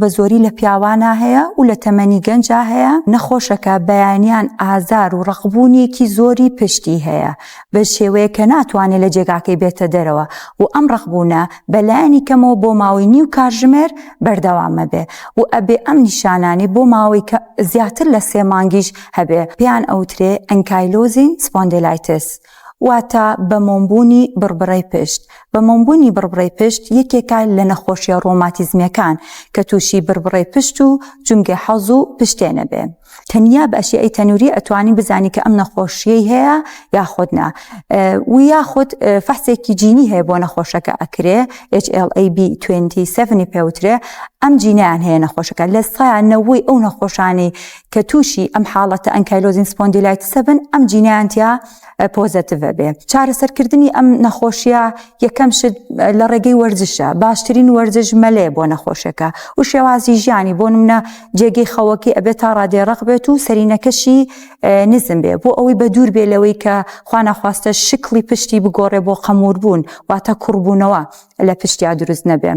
بە زۆری لە پیاوانا هەیە و لە تەمەنی گەنجا هەیە نەخۆشەکە بەیانیان ئازار و ڕقبوونیەکی زۆری پشتی هەیە بە شێوەیە کە ناتوانێت لە جێگاکەی بێتە دەرەوە و ئەم ڕقبوونە بەلایەنی کەمەوە بۆ ماوەی نیو کارژمێر بەردەوامە بێ و ئەبێ ئەم نیشانانی بۆ ماوەی کە زیاتر لە سێ مانگیش هەبێ پێیان ئەوترێ ئەنکایلۆزین سپۆندێلایتس واتە بەمۆمبوونی بڕبڕەی پشت، بەمۆمبوونی بڕبڕەی پشت یەکێکە لە نەخۆشیە ڕۆماتیزمیەکان کە تووشی بڕبڕەی پشت و جومگەی حەوز و پشتێ نەبێ تەنیا بە ئەشیەی تەنووری ئەتوانی بزانی کە ئەم نەخۆشیەی هەیە یاخود نا و یاخود فەحسێکی جینی هەیە بۆ نەخۆشەکە ئەکرێ HLA-B27 پێوترێ ئەم جینیان هەیە نەخۆشەکە لە سایان نەوەی ئەو نەخۆشانی کە تووشی ئەم حاڵەتە ئەنکایلۆزین سپۆندیلایتسە بن ئەم جینیان تیا پۆزەتیڤە بێ چارەسەرکردنی ئەم نەخۆشیە یەکەم شت لە ڕێگەی وەرزشە باشترین وەرزش مەلێ بۆ نەخۆشەکە و شێوازی ژیانی بۆ منە جێگەی خەوەکی ئەبێت تا ڕادێ ڕق بێت و سەرینەکەشی نزم بێ بۆ ئەوەی بە دوور بێ لەوەی کە خوانەخواستە شکڵی پشتی بگۆڕێ بۆ قەمور بوون واتە کوڕبوونەوە لە پشتیا دروست نەبێ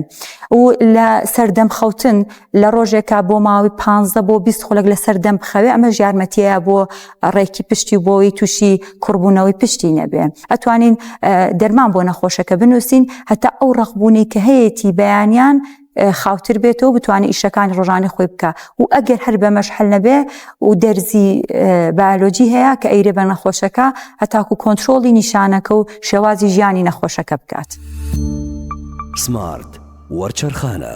و لە سەردەم خەوتن لە ڕۆژێکا بۆ ماوەی پ بۆ 20 خولک لە سەردەم بخەوێ ئەمە ژارمەتیە بۆ ڕێکی پشتی و بۆی تووشی کوڕبوونەوەی پشتی نەبێ ئەتوانین دەرمان بۆ نەخۆشەکە بنووسین هەتا ئەو ڕقبوونی کە هەیەی بەیانیان خاوتر بێتەوە بتوانێت ئیشەکانی ڕۆژانی خۆی بکە و ئەگەر هەر بەمەش حل نەبێ و دەرزی بایلۆجی هەیە کە ئەیرێ بە نەخۆشەکە هەتاکو کۆنتترۆڵی نیشانەکە و شێوازی ژیانی نەخۆشەکە بکات سمارت وەرچەرخانە.